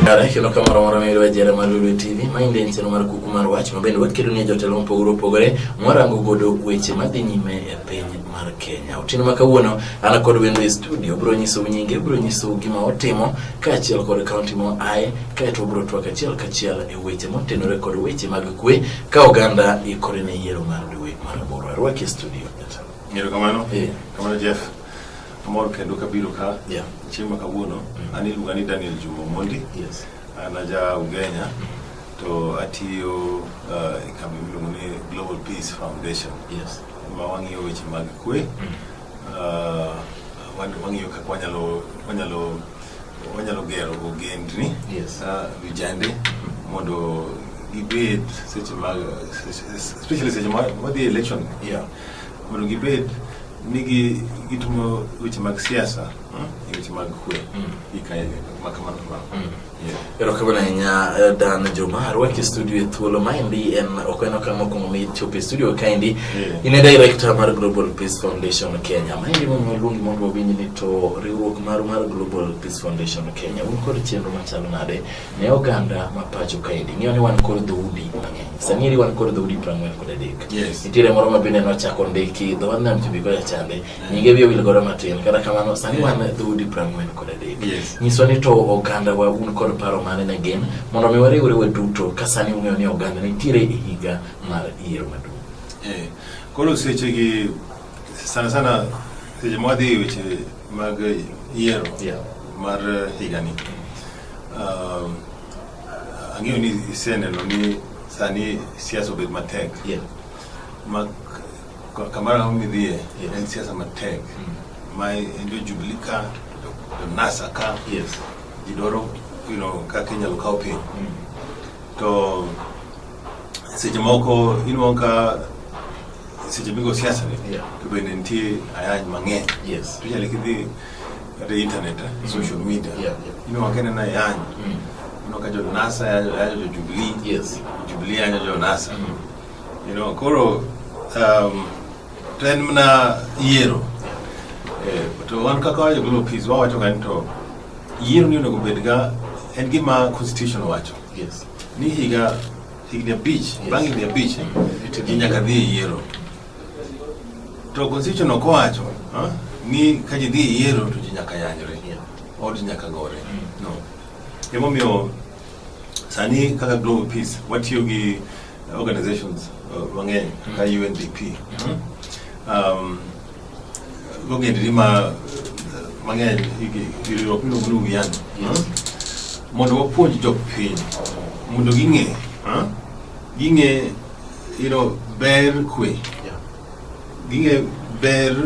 Kare kendo ka moro moro mayudo ajera mar Lulu TV ma inde en chenro mar kuku mar wach ma bende wakedo ne jotelo mopogore opogore mwarango godo weche madhi nyime e piny mar Kenya. Otieno ma kawuono an kod wendo e studio bro nyiso nyinge, bro nyiso gima otimo kaachiel kod kaunti mo aye, kaeto bro twak achiel kachiel e weche motenore kod weche mag kwe ka oganda ikore ne yiero mar dwe mar aboro. Arwaki e studio. Ngero kamano? Eh. Kamano Jeff. Amor kendo kabiro ka. Yeah. Chieng' ma kawuono, mm. an iluonga ni Daniel Juma Mondi. Yes. An aja Ugenya. Mm. to atiyo uh, e kambi miluongo ni Global Peace Foundation. Yes. Ma wang'iyo weche mag kwe, ah, wan- wang'iyo kaka wanyalo wanyalo wanyalo gero ogendni Yes. ah, vijande mondo gibed seche mag especially seche ma wadhi election Yeah. mondo gibed ni gi- gitimo weche mag siasa mm, weche mag kwe Mm. gi kae makamano kamano Mm. Erokamano ahinya eh, Dan Juma arwaki e studio e thuolo maendi en ok en okang' mokwongo michopo e studio kaendi in e director mar Global Peace Foundation Kenya maendi momiyo luongi mondo wawinj ni to riwruok maru mar Global Peace Foundation Kenya un kod chenro machalo nade ne oganda ma pacho kaendi ng'eyo ni wan kod dhoudi mang'eny sani eri wan kod dhoudi prang'wen kod adek nitiere moro ma bende nochako ndiki dho wadnam chumbi kocha chande nyinge bye wil godo matin kata kamano sani wan dhoudi prang'wen kod adek nyiswa ni to oganda wa un kod paro mane ne gin mondo mi wariwre wa duto ka sani ung'eyo ni oganda nitiere e higa mar yiero maduong' eh, koro sechegi sana sana seche ma wadhi e weche mag yiero mar higani um, ang'eyo ni iseneno ni sani siasa obed matek Kamara onge dhie yes. en siasa matek mm. ma en jo Jubilee ka to NASA ka yes. ji dwaro you know, kaka inyalo kawo piny mm. to seche moko inuo ka seche migo siasa ni yeah. to bende nitie ayany mang'eny yes. to inyalo kidhi kata internet eh, mm. social media yeah, yeah. inuo ka ineno ayany mm. inuo ka jo NASA yajo jo Jubilee yes. Jubilee yajo jo NASA mm. You know, koro um, to en mana yiero eh, to wan kaka wajo gi lopis wawacho ga ni to yiero ni onego bed ga en gima constitution wacho yes. ni higa higni abich yes. bang' higni abich ji nyaka dhi e yiero to constitution ok owacho ni ka ji dhi e yiero to ji nyaka yanyre or ji nyaka gore mm. no emomiyo sani kaka global peace watiyo gi Organizations uh, mang'eny kaka UNDP mm-hmm. um, gogendri ma uh, mang'eny riwruok miluongo ni Uwiano mm-hmm. mondo wapuonj jopiny mondo ging'e ging'e you know, ber kwe Ging'eyo ber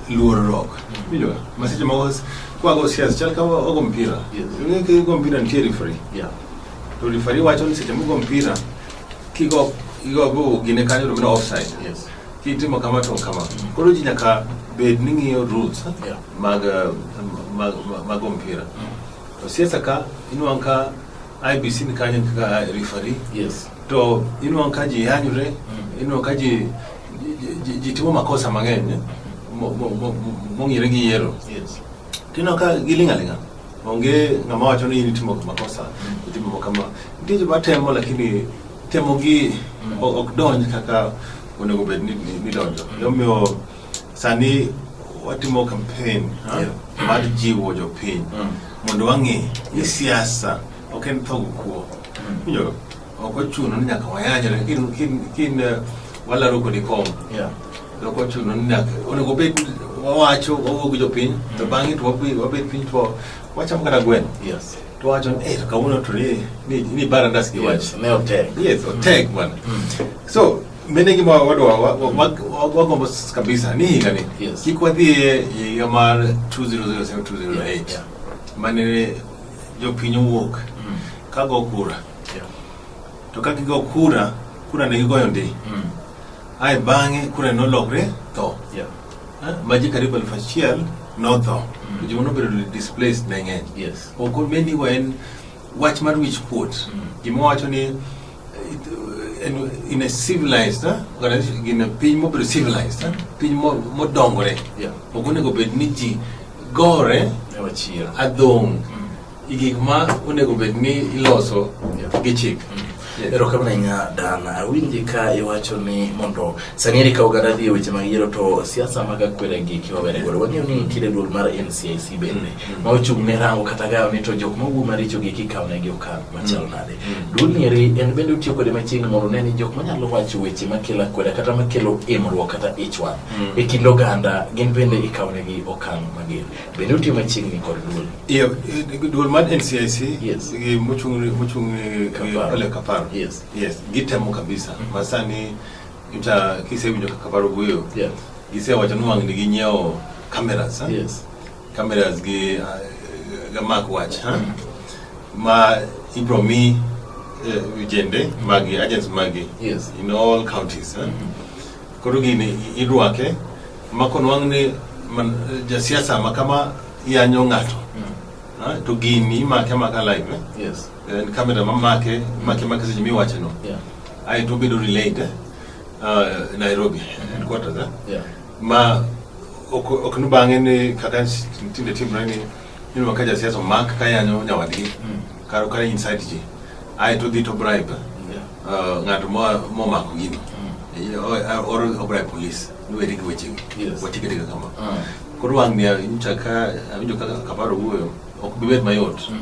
luorruok. Winjo? Ma seche moko s- kwago siasa chal ka wa- wago mpira. Yes. Ing'e ka igo mpira nitie referee. Yeah. To referee wacho ni seche migo mpira kigo igo go gine kanyo to mino offside. Yes. Kitimo kama to kama. Koro ji nyaka bed ni ng'iyo rules Yeah. mag eh, mag mag- mag mpira. To siasa ka inuang' ka IBC ni kanyo kaka referee. Yes. To inuang' ka ji yanyre, mm. inuang' ka ji ji timo makosa mang'eny mong'ire gi yiero. Yes. Tino ka giling' aling'a. Onge ng'ama wacho ni itimo makosa, mm. itimo kama. Nitie joma temo lakini temo gi mm. ok donj kaka onego bed ni donjo. Omiyo Sani watimo campaign ha? Yeah. mar jiwo jopiny Mm. mondo wang'e ni siasa ok en tho kuo winjo ok ochuno ni nyaka wayanyre kin kin kin eh, walaro kodi kom Yeah. ok ochuno ni nyaka onego bed wawacho wawuo gi jopiny to bang'e to wabe- wabed piny to wachamo kata gweno Yes. to wacho ni eh to kawuono to ni ni ni barandas gi wach Yes. Ne otek. yes otek bwana so Mene gi ma wadwa wagombo kabisa ni higa ni yes. Kik wadhi e higa mar 2007 2008 yeah. yeah. Mane jopiny owuok mm. ka go kura yeah. To ka gigo kura kura ne gigoyo ndi mm. Ae bang'e kura nolokre tho yeah. Eh, maji karibu elfu achiel notho mm. Joma nobedo displaced ne ng'eny yes. Oko meni wa en Wach mar wich kuot. Gima wacho ni in a civilized organization, in a piny mobedo civilized, piny modongore. Ok onego bed ni ji gore adhong' gi gik ma onego bed ni iloso gi chik. erokamano ahinya dan awinji ka iwacho ni mondo sani eri ka oganda dhi e weche mag yiero to siasa mag akwere gi kiwabere godo wang'eyo ni nitiere duol mar ncic bende mm. ma ochung' ne rango kata gayo ni to jok mawuo maricho gi kikawo negi okang' machalo mm. nade mm. duolni eri en bende otiyo kode machiegni mondo ne ni jok manyalo wacho weche makelo akwere kata makelo imruok kata ich wang' e kind oganda gin bende ikawo negi okang' mager Bende utiyo machiegni kod duol? Iyo, eh, duol mar NCIC yes. gi mochung' mochung' eh, eh, ole Kaparo. Yes. Yes, gitemo kabisa. Mm -hmm. Masani ita kisewinjo kaka Kaparo wuoyo. Yes. Gisewacho ni wang'ni ginyiewo cameras. Eh? Yes. Cameras gi uh, gamak wach. Huh? Mm -hmm. Ma ibro mi uh, vijende magi, agents magi. Yes. In all counties. Huh? Mm -hmm. Koro gini idwake ma konwang' ni man, jasiasa ma kama yanyo ng'ato Ah, to gini imake amaka live eh? Yes. en kamera mamake make make seche miwache no Yeah. ae to obedo relayed eh? Ah, nairobi headquarters eh? Yeah. ma ok ok ni bang'e ni kaka tinde timre ni Yule wakaja siasa mark kaya nyo nya wadi. Mm. Karo kare inside ji. Ai to dito bribe. Yeah. Uh, ngato mo mo mako gini. Mm. Or, uh, or, or bribe police. Niwe digi weche. Yes. Wachike digi kama. Mm. Kuru wang niya, nchaka, awinjo kaka kaparo uwe, okubibet mayot. Mm.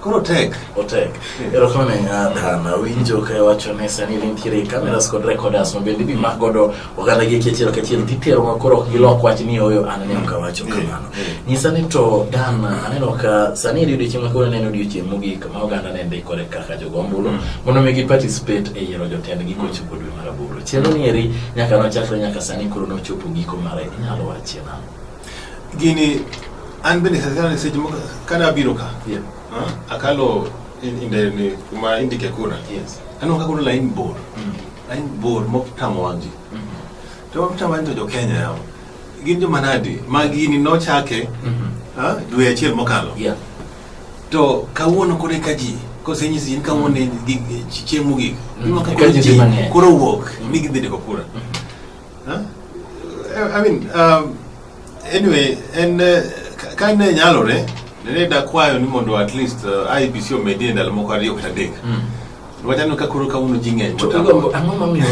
Koro otek. Otek. Erokamano ahinya Dan. Awinjo ka iwacho ni sani nitiere cameras kod recorders ma bende ibimako godo oganda gi achiel kachiel titero ma koro ok gilok wach ni oyo an ne ok awacho kamano. Nyisa ni to Dan aneno ka sani en odiechieng' ma kawuono en odiechieng' mogik ma oganda ne ndikore kaka jogo ombulu mondo mi gi participate e yiero jotendgi kochopo dwe mar aboro. Chenro ni eri nyaka nochakre nyaka sani koro nochopo giko mare inyalo wachie nang'o? Gini an bende sasana ni seche moko kada abiro ka. Yeah. Uh, akalo inde ni kuma indike kura. Yes. Anonga kuna lain bor. Mm. Lain bor mok tamo wangi. Mm -hmm. To mtamo wangi to jo Kenya yao. Gin jo manadi. Magi ni no chake. Mm -hmm. Ha? Dwe achiel mokalo. Yeah. To kawuono kore ka ji kosenyisi in kawuono mm. chieng' mogik. Mm. Koro wuok. Mm. Ni gidhi deko kura. Mm -hmm. Huh? I mean, um, anyway, and uh, ka ne nyalore ne dakwayo ni mondo at least uh, IBC omedie ndalo moko ariyo kata adek mm. wachano ka koro kawuono ji ng'eny ang'o momiyo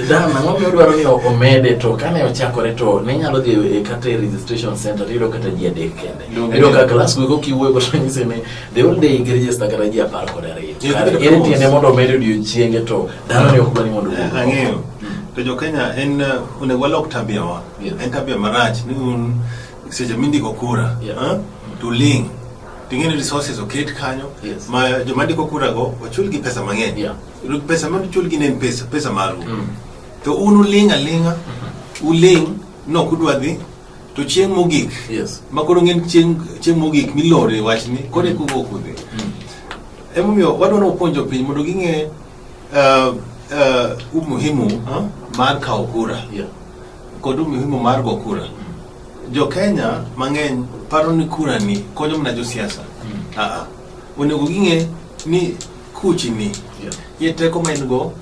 dan ang'o momiyo dwaro ni omede to kane ochakore to ne nyalo dhi e kata e registration center to iyudo kata ji adek kende iyudo ka klas gogo kiwuoyo go to nyise ni the whole day register kata ji apar kod ariyo kare en tiende mondo omed odiochienge to dhano ne ok dwa ni mondo ang'eyo To jo Kenya en eh, onego walok tabia wa. Yes. En tabia marach ni un seche mindiko kura. Yeah. Huh? To ling. Ting'e ni resources oket kanyo. Yes. Ma joma ndiko kura go ochul gi pesa mang'eny. Yeah. Pesa ma ochul gi ne en pesa, pesa maru. Mm. To un uling alinga. Mm-hmm. Uling no kudwa dhi to chieng' mogik. Yes. Ma koro ng'en chieng' chieng' mogik milore wachni. Kore mm. kugo kudhi. Mm. Emomiyo wadwa ni wapuonjo piny mondo ging'e uh, uh, umuhimu huh? mar kawo kura yeah. kod umuhimu mar go kura mm. jo Kenya mang'eny paro ni kura ni konyo mana josiasa mm. uh -uh. onego ging'e ni kuchi ni yeah. ye teko ma in go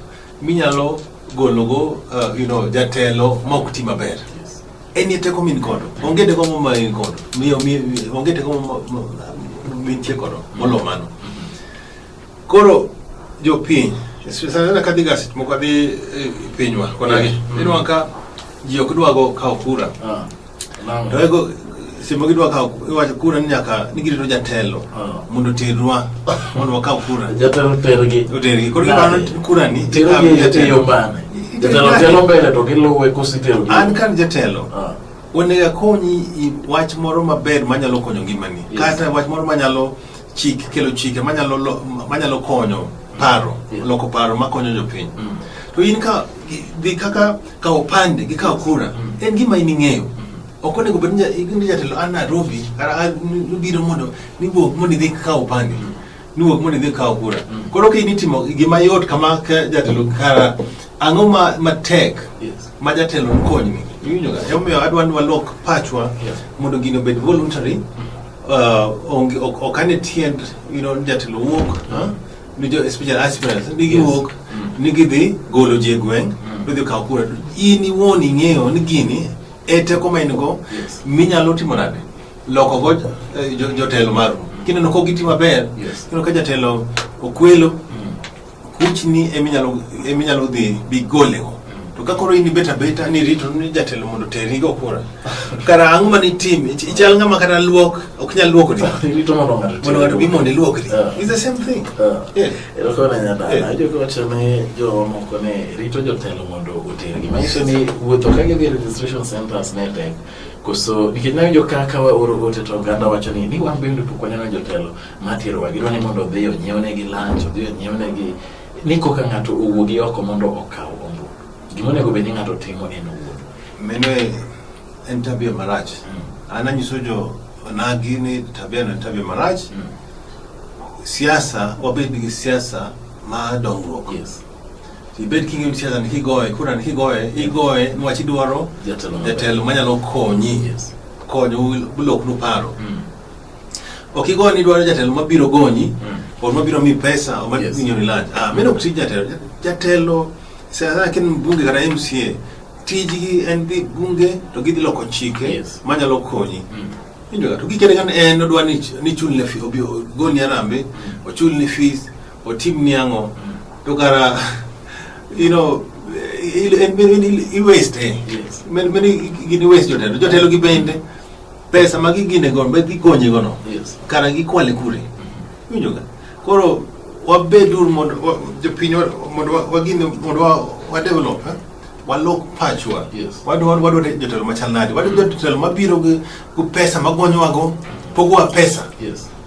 minyalo gologo uh, you know, jatelo ma ok ti maber yes. en ye teko min kodo mm. onge teko mo ma in kodo miyo onge teko mo mintie kodo molo mano mm. Koro jopiny sana kadhi gaset moko adhi eh, pinywa konagi eh, mm. inwa ka ji ok dwa go kawo kura ah, to ego simo gidwa kawo iwacho kura ni nyaka ni girito jatelo ah. mondo oterwa mondo wakaw kura jatelo tergi otergi koro gibano kura ni terogi jatelo bane jatelo telo mbele to giluwe kositero an kan jatelo ah. onego akonyi wach moro maber manyalo konyo ngimani kata wach moro manyalo chik kelo chike manyalo lo- manyalo konyo paro Mm. loko paro makonyo jopiny Mm. to in ka gi- gi kaka ka opande gi ka kura Mm. en gima in ing'eyo ok onego bed ni ja- ni jatelo a Nairobi kata a- ni- nibiro mondo niwuog mondo idhi ka opande Mm. niwuog mondo idhi ka kura Mm. koro ka in itimo gima yot kama ka jatelo kara ang'o ma matek Yes. ma jatelo konyni iwinjoga emomiyo adwa ni walok pachwa Yeah. mondo gino obed voluntary onge ok ok ane tiend you know jatelo wuok ah, ni jo special aspirants ni giwuok ni gidhi golo ji e gweng' to idhi kawo kura to in iwuon ing'eyo ni gini e teko ma in go Yes. minyalo timo nade loko go eh, jo- jotelo maru kineno ka giti maber Yes. kineno ka jatelo okwelo Kuchni eminyalo eminyalo dhi bigolego to ka koro in ibet abeta ni rito ni jatelo mondo teri go kura kara ang'o ma nitim Ich- ichal ng'ama kata luok ok nyal luoko di Irito mondo ng'ato mondo ng'ato bi mondo iluok di Ah. is the same thing Ah. Yeah. Erokamano nyadala. Eh. Ajo kowacho ne jomoko ne rito jotelo mondo otergi. Manyiso ni wuotho ka gidhi e registration centers ne tek. Koso nikech nawinjo ka ka waoro ote to oganda wacho ni ni wan bende pok waneno jotelo. Matirowa gidwa ni mondo odhi onyiewonegi lunch, odhi onyiewonegi ni koka ng'ato owuogi oko mondo okaw ombulu. Gima onego bed ni ng'ato timo en owuon. Meno en tabia marach. Mm. An anyiso jo onagi ni tabia no tabia marach. Mm. Siasa wabed gi siasa ma dongruok. Yes. Ibed kingi ni siasa ni kigoye, kura ni kigoye, igoye ni wachi dwaro jatelo manyalo konyi. Yes. Konyo bulok no paro. Mm. Ok igo ni dwaro jatelo mabiro gonyi, mm. or mabiro mi pesa, or mabiro yes. nyoni lach. Ah, meno mm. kutija jatelo. Jatelo, sasa kin mbunge kata MCA, tijgi en dhi bunge to gidhi loko chike yes. manyalo konyi mm. injoga to gikere kan en odwa ni, ni chulne fi obi ogoni arambe mm. ochulni fees otimni ang'o mm. to kara you know i waste eh yes. men men gini waste jotelo jotelo gi bende pesa ma gigine go be gikonye go no yes. kana gikwale kure mm-hmm. winjo ga koro wabed ur mondo jopiny mondo wagine mondo wa develop eh? walok pachwa yes. wadwa wadwa jotelo machal nadi wadwa jotelo mabiro gi pesa magonyowago pogowa pesa yes.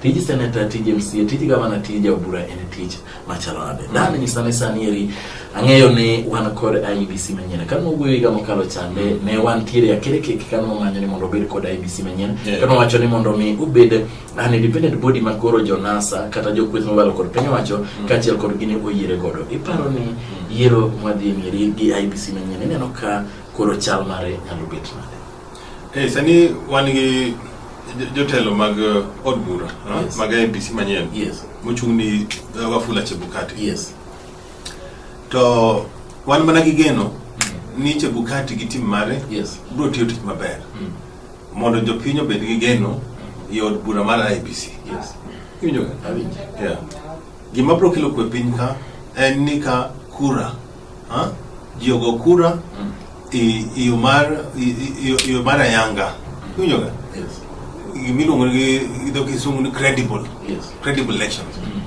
tij seneta tij mca tij gavana tij jaobura en tij machalo nade dani ni sani sani eri ang'eyo ni wan kod ibc manyien kane wawuoyo higa mokalo chande ne wan tiere akere kek kane wamanyo ni mondo obed kod ibc manyien Yeah. kane wawacho ni mondo mi ubed an independent body ma koro jonasa kata jokweth mobalo kod piny owacho kaachiel kod gini oyiere godo iparo ni yiero mwadhi e mieri gi ibc manyien ineno ka koro chal mare nyalo bet nade Hey, eh, sani wan gi jotelo mag uh, od bura uh, yes. mag IBC manyien yes. mochung' ni uh, Wafula Chebukati yes. to wan mana gi geno mm. ni Chebukati gi tim mare yes. biro tiyo tich maber mm. mondo jopiny obed gi geno mm. e od bura mar IBC yes. yeah. gima biro kelo kwe piny ka en ni ka kura Ha? Ji ogo kura mm. i iyo mar iyo mar ayanga. Mm. Iwinjo ga? Yes. Gimiluongo gi idho kisungu ni credible. Yes. Credible elections. Mm.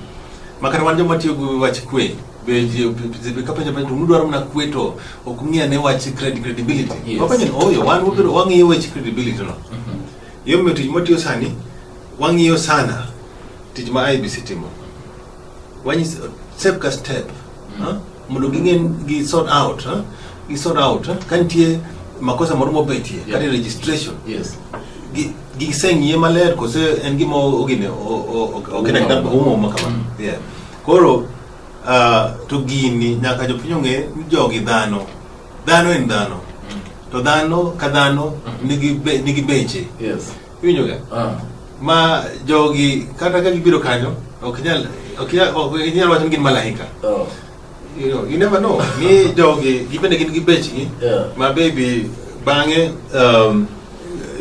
Makata wan joma tiyo gi wach kwe kapenjo penjo to mudwaro mana kwe to ok ung'e ane wach credibility. Yes. Wapenjo ni oyo oh, wan wabiro wang'iyo wach credibility no. Mm-hmm. Yo miyo tich mwatiyo sani wang'iyo sana tich ma IBC timo. wanyis step ka step mm. mondo ging'e gi sort out ha? gi sort out ha? ka nitie makosa moro mobetie yeah. kata registration yes giseng'iye maler kose en gima ogine okena kata oumoma kamano mm. yeah koro uh, to gini nyaka jopiny ong'e ni jogi dhano dhano en dhano mm. to dhano ka dhano mm. nigi beche Iwinjoga? Ah. Ma jogi kata ka gibiro kanyo ok nyal ok nyal ok nyal wacho ni gin malaika. Oh. You know, you never know. Ni jogi gibende gin gi bechgi. Yeah. Ma baby bang'e um,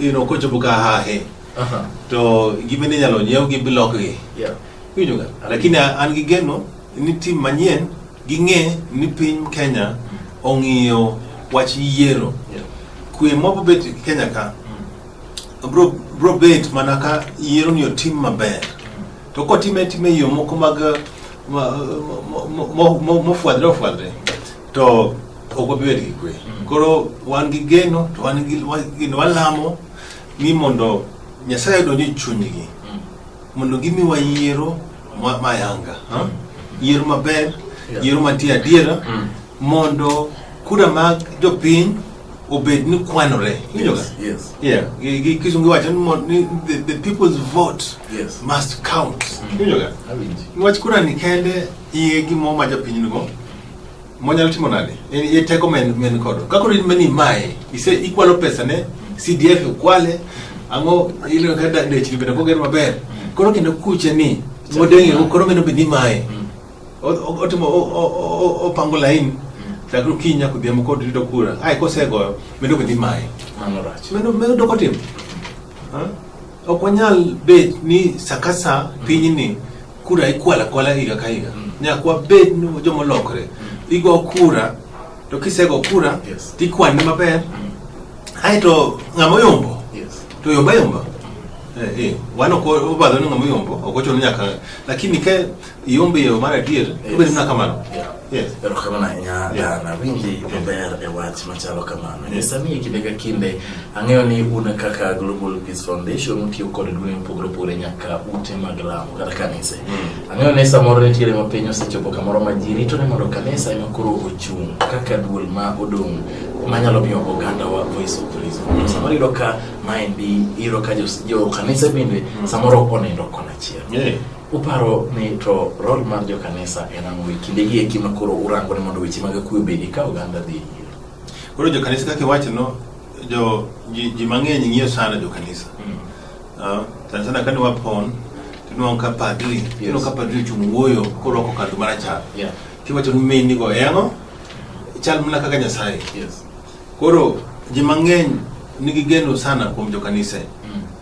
you know kochopo ka hahe Aha. to gibende inyalo nyiew gi bilok gi. Yeah. Iwinjoga? Lakini an gi geno ni tim manyien ging'e ni piny Kenya ong'iyo wach yiero. Yeah. Kwe mobet Kenya ka bro bro bet mana ka yiero ni otim maber to kotime time yo moko mag mofwadre ofwadre to ok wabibed gi kwe mm. koro wan gi geno to wan gi geno walamo ni mondo nyasaye odonj e chunygi mm. mondo gimiwa yiero mayanga mm. yiero maber yiero mantie adiera mondo kura mag jopiny obed ni kwanore kisungu wacho ni the people's vote yes. must count iwinjoga niwach kura ni kende iye gimo ma japiny nigo monyalo timo nade iye teko men kodo kakoro in mani mae ise ikwalo pesa ne cdf ukwale ang'o ileo ka dechni bende koger maber koro kendo kuche ni modeng'ego koro meno bed ni mae mm. otimo opango laini mm. lakini kinya kudhiambo kod rito kura ai kosegoyo medo kodhi maye medo medo doko tim ok wanyal bet ni sakasa mm. pinyni kura ikwala kwala higa ka higa mm. nyaka wabed ni jomolokre igo kura to kisego kura tikwane maber aeto ng'ama oyombo to yomba yomba eh, eh. wano ko obadho ni ng'ama yombo ok ochuno nyaka lakini ke Iombe yo mar adier, obed mana kamano. Erokamano ahinya Dana, winji maber e wach machalo kamano. Nyisa ni kinde ka kinde ang'eyo ni un kaka Global Peace Foundation utiyo kod duonde mopogore opogore nyaka ute mag lamo kata kanise. Mm. Ang'eyo ni samoro nitiere ma piny osechopo kamoro ma ji rito ni mondo kanisa ema koro ochung' kaka duol ma odong' manyalo miyo oganda wa voice of reason. Mm. Samoro iyudo ka maendi iyudo ka jo kanise bende mm. samoro ok onindo kona achiel. Uparo ni to rol mar jo kanisa en ang'o e kinde gi eki ma koro urango ni mondo weche mag kuwe obedi ka oganda dhi nyime? Koro jo kanisa kaka iwacho no jo ji, ji mang'eny ng'iyo sana jo kanisa. Mm. Uh, sana sana kane wapon tinwang' ka padri yes. tinwang' ka padri ochung' wuoyo korwako kadhu marachar yeah. tiwacho ni meni go e ang'o chal mana kaka nyasaye yes. koro ji mang'eny nigi geno sana kuom jo kanisa mm.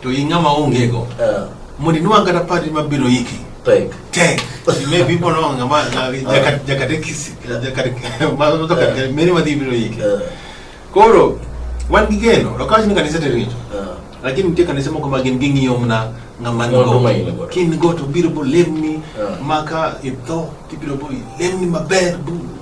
To in ng'ama onge go. Uh. Mondo inwa kata party mabiro iki. Tek. Tek. Maybe people know ng'ama jaka jaka tekisi. Jaka jaka many madhi biro iki. Uh. Koro wan gi geno, to kawach ni kanisa te rito. Uh. Lakini nitie kanisa moko ma gin ging'iyo mna ng'ama nigo. Kin go to biro bo lemni maka itho tibiro bo lemni maber bu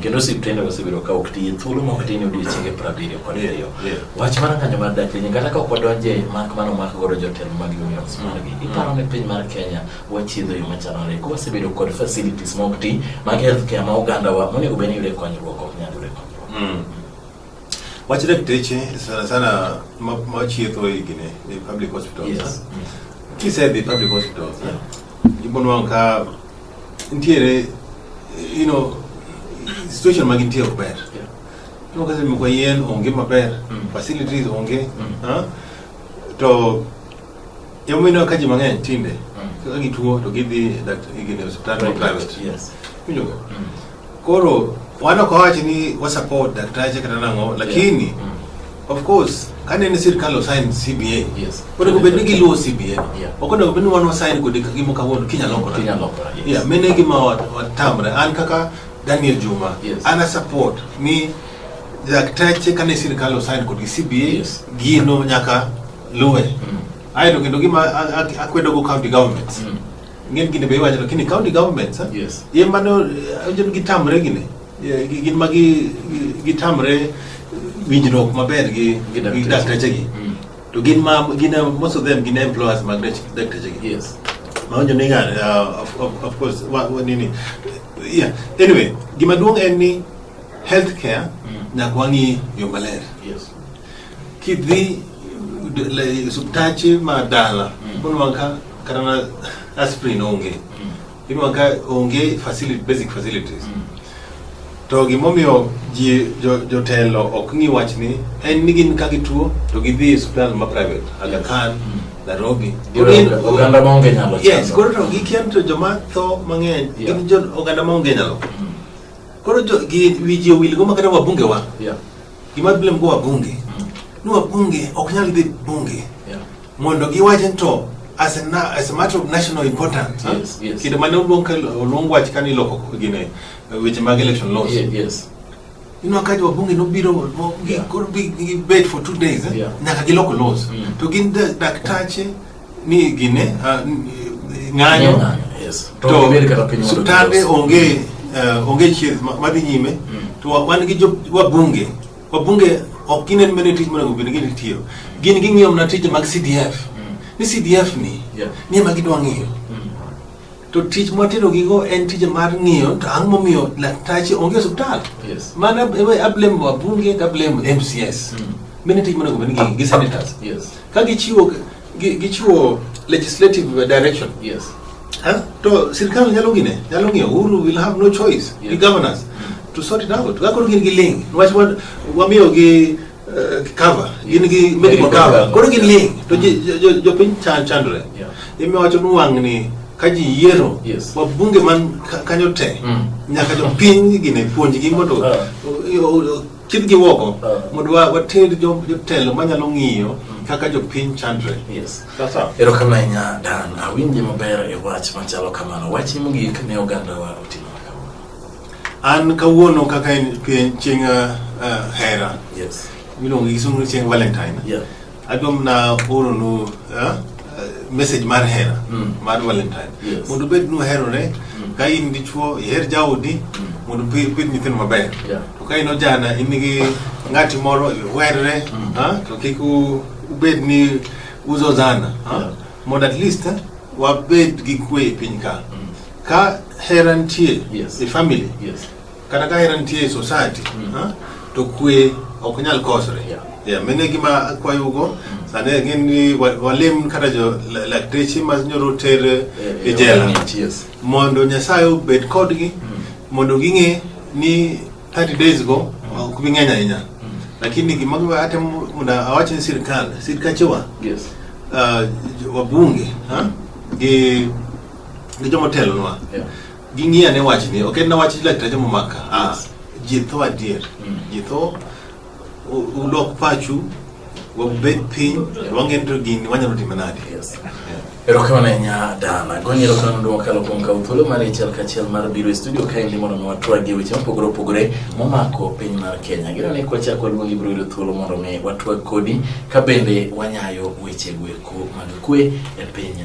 kendo osiptende wasebedo ka ok tiye thuolo ma ok tin odiechienge piero abiriyo kod ariyo wach mar ng'anyo mar dak piny kata ka ok wadonje mak mano mak godo jotelo mag unions margi mm. iparo ni piny mar kenya wachiedho yo machanore ko wasebedo kod facilities ma ok ti mag health care ma oganda wa monego bed ni yude konyruok ok nyal yude konyruok mm. wach dakteche sana sana machietho e gine e public hospitals kisedhi public hospitals eh? ibonwang' ka ntiere you know situation ma gintie ok ber no kasi mko yien onge maber mm. facilities onge mm. ha? to yomino ka ji mang'eny tinde mm. kaka gituo to gidhi e hospital private yes. Winjoga? Mm. Koro wan ok wawachi ni wa support daktache kata nang'o lakini yeah. mm. of course kane ni sirkal osign CBA yes. onego bed ni giluwo CBA yeah. ok onego bed ni wan wasign kode gimo kawuono kinya lokore kinya lokore yes. yeah, mene gima watamre an kaka Daniel Juma yes. ana support ni daktache kane sirkal osign kod CBA yes. gino nyaka luwe mm. aeto kendo gima akwedogo county governments mm. Ng'en gini be iwacho lakini county governments eh? Yes. Ye mano onjo eh, gitamre gini. Ye, gi- Gin ma gi gi- gitamre winjruok maber gi Gi dakteche. gi dakteche gi. Mm. To gin ma gin eh, most of them gin employers mag dach- dakteche gi. Yes. Maonjo ni ng'ar, uh, of, of, of course, wa, wa, nini. Yeah. Anyway, gima duong' en ni healthcare Mm. nyaka wang'i yo maler. Yes. Kidhi osiptache ma dala mm. inuang' ka kata na aspirin onge mm. inuang' ka onge facility, basic facilities mm. to gimomiyo ji jotelo ok ng'i wach ni en ni gin ka gituo to gidhi e osiptal ma private Aga Khan Nairobi. Oganda ma onge nyalo. Yes, koro to gikian to joma tho mang'eny gin jo oganda ma onge nyalo. Koro jo gi wiji owil go makata wabunge wa. Yeah. Gima bile mko wabunge. Ni wabunge ok nyal dhi bunge. Yeah. Mondo giwache to as a, na, as a matter of national importance. Yes, yes. Kido mane oluong oluong wach kani loko gine weche mag election laws. Yeah, yes. Ino akaji wabunge nobiro yeah. gibet for two days eh? yeah. Nyaka giloko laws. Mm. To gin daktache ni gine uh, ng'anyo to tande onge uh, onge chieth madhi nyime mm. to wan gi wabunge wabunge ok gin en mene tij monego bed ni gitiyo gin ging'iyo mana tije mag CDF mm. ni CDF ni ni ema gidwa ng'iyo To tich mwatero gigo en tich mar ng'iyo to ang' momiyo laktache onge osiptal. Yes. Mana ablem wa bunge to ablem MCS. Mm. Mene tich monego bed ni gi senators. Yes. Ka gichiwo gichiwo legislative direction. Yes. Huh? To sirkal nyalo gine, nyalo ng'iyo Uhuru will have no choice. Yes. The governors. Mm. To sort it out. Gakoro gin gi ling. Wach wamiyo gi Eh, cover gin gi medical Medical cover cover. koro gin link to ji- jo- jo- jopiny chan- chandore Yeah. imiwacho ni wang'ni ka ji yiero Yes. wabunge man ka- kanyo te Mm. nyaka jopiny gine puonjgi mondo Ah. o- o- o- kidgi woko Ah. mondo wa- water jo- jotelo manyalo ng'iyo kaka jopiny chandre Yes. sasa Erokamano ahinya Dan, awinje maber e wach machalo kamano. Wachni mogik ne ogandawa oting'o. An kawuono kaka en pien- chieng' uh, uh, hera Yes. miluongo gi sungu chieng' valentine Yeah. adwam na oronu uh, uh, message mar hera Mm. mar valentine Yes. mondo bed nu herore ka in dichuo iher jaodi mondo pi- pidh nyithindo maber Yeah. to ka in ojana in gi ng'ati moro werre Mm. ah, to kik u- ubed ni uzozana ah, Yeah. mondo at least eh, wabed gi kwe e piny ka Ka hera nitie yes. e family yes. kata ka hera nitie e society mm. ha? to kwe ok nyal kosre yeah. Yeah, mene gima akwayugo mm. sani gin ni walim kata jo lakteche ma nyoro ter eh, e eh, jela yes. mondo nyasaye obed kodgi mm. mondo ging'e ni 30 days go mm. ok bi ng'eny ahinya mm. lakini gima ate mondo awach ni sirkal sirkachewa yes. uh, wabunge ha? gi ne joma otelonwa Yeah. ging'i ane wachni ok en na wach lakteche momaka ah, ji tho adier Mm. ji tho u- ulok pachu wabed piny wang'e ni to gini wanyalo time nade Yes. Yeah. Erokamano ahinya Dana. Goni erokamano duong' mokalo kuom kawo thuolo mar achiel kachiel mar biro e studio kaendi mondo mi watwagie weche mopogore opogore momako piny mar Kenya. Gino ni kwachako waluongi biro yudo thuolo mondo mi watwag kodi ka bende wanyayo weche gweko mag kwe e piny